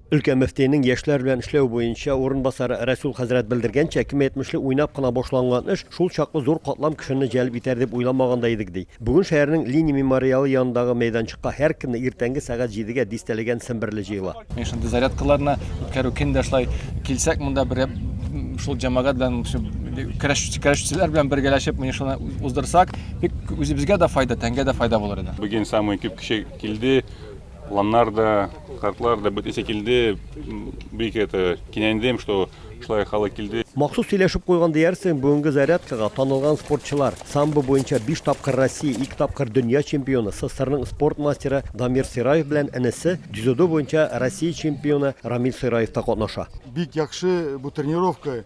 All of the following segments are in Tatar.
Өлкә мөфтиенең яшьләр белән эшләү буенча урынбасары Рәсүл хәзрәт белдергәнчә, кем әйтмешли, уйнап кына башланган эш шул чаклы зур катлам кешене җәлеп итәр дип уйламаган да идек, ди. Бүген шәһәрнең Ленин мемориалы янындагы мәйданчыкка һәркөнне иртәнге сәгать җидегә дистәләгән семберле җыела. Менә шундый зарядкаларны үткәрү көн дә шулай килсәк монда бер шул җәмәгать белән көрәшүчеләр белән бергәләшеп менә шуны уздырсак, бик үзебезгә дә файда, тәнгә дә файда булыр иде. Бүген самый күп кеше килде. Планнар да, картлар да бөтенесе килде. Бик это кинәндем, что шулай халык килде. Махсус сөйләшеп куйган диярсең, бүгенге зарядкага танылган спортчылар. Самбо буенча 5 тапкыр Россия, 2 тапкыр дөнья чемпионы, СССРның спорт мастеры Дамир Сираев белән энесе, дзюдо буенча Россия чемпионы Рамил Сираев та катнаша. Бик яхшы бу тренировка.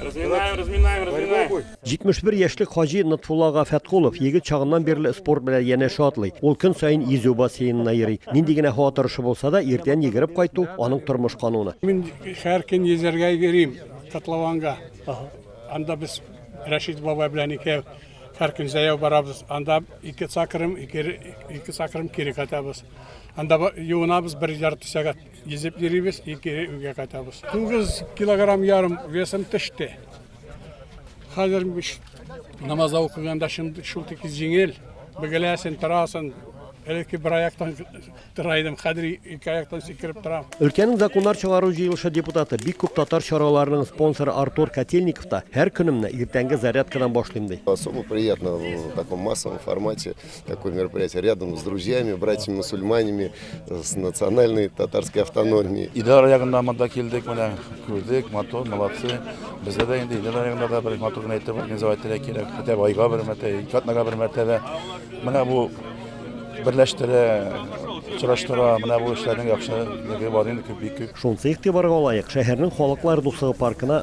Разминаем, разминаем, разминаем. 71 яшьлек Хаҗи Нотфуллага Фәткулов егет чагыннан бирле спорт белән янәшә атлый. Ул көн саен йөзү бассейнына йөри. Нинди генә һава торышы булса да, иртән йөгереп кайту аның тормыш кануны. Мин һәр көн йөзәргә йөрим Котлованга. Анда без Рәшит бабай белән икәү һәр көн зәяу барабыз. Анда ике сакрым, ике, ике сакрым кире кайтабыз. Анда юынабыз бер ярты сәгать. Йөзеп йөрибез, ике өйгә кайтабыз. Тугыз килограмм ярым весым төште. Хәзер намаз укыганда шул тик җиңел. Бөгеләсен, торасың. Элекке бер аяктан тора идем, хәзер ике аяктан сикереп торам. Өлкәнең законнар чыгару җыелышы депутаты, бик күп татар чараларының спонсоры Артур Котельников та һәр көнемне иртәнге зарядкадан башлыйм ди. Особо приятно в таком массовом формате Такое мероприятие рядом с друзьями, братьями-мусульманами, с национальной татарской автономией. Идар ягында монда килдек, менә күрдек, матур, молодцы. Бездә дә инде идар ягында да бер матур гына итеп организовать итәргә кирәк. Хәтта айга бер мәртәбә, ике атнага бер мәртәбә. Менә бу берләштерә, очраштыра, менә бу эшләрнең яхшылыгы бар инде күп бик күп. Шунысы игътибарга лаек, шәһәрнең халыклар дуслыгы паркына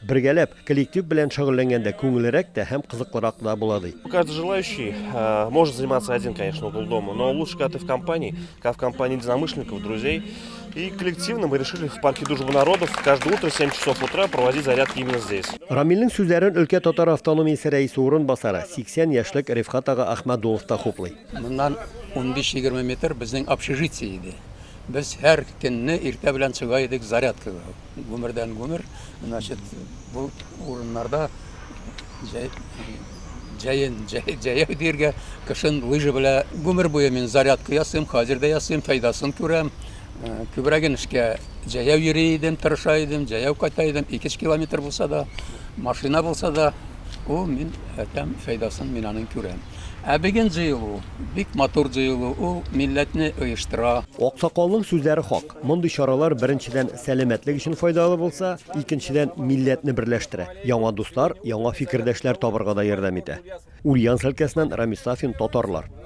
Бергәләп, коллектив белән шөгыльләнгәндә күңеллерәк тә һәм кызыклырак да була, ди. Каждый желающий э, может заниматься один, конечно, угол дома, но лучше, когда ты в компании, когда в компании единомышленников, друзей. И коллективно мы решили в парке Дружбы народов каждое утро в 7 часов утра проводить зарядки именно здесь. Рамилнең сүзләрен өлкә татар автономиясе рәисе урынбасары, 80 яшьлек Рифкат ага Ахмадулов та хуплый. Моннан 15-20 метр безнең общежитие иде. Без һәр көнне иртә белән чыга идек зарядкага. Гомердән гомер, значит, бу урыннарда җәй, җәен, җәй, җәяү диергә, кышын лыжа белә. Гомер буе мин зарядка ясыйм, хәзер дә ясыйм, файдасын күрәм. Э, Күбрәген эшкә җәяү йөри идем, тырыша идем, җәяү кайта идем, 2 километр булса да, машина булса да, ул мин әтәм файдасын мин аның күрәм. Ә бүген җыелу, бик матур җыелу, ул милләтне оештыра. Аксакалның сүзләре хак. Мондый чаралар, беренчедән, сәламәтлек өчен файдалы булса, икенчедән, милләтне берләштерә, яңа дуслар, яңа фикердәшләр табарга да ярдәм итә. Ульяновск өлкәсеннән Рамис Сафин, Татарлар.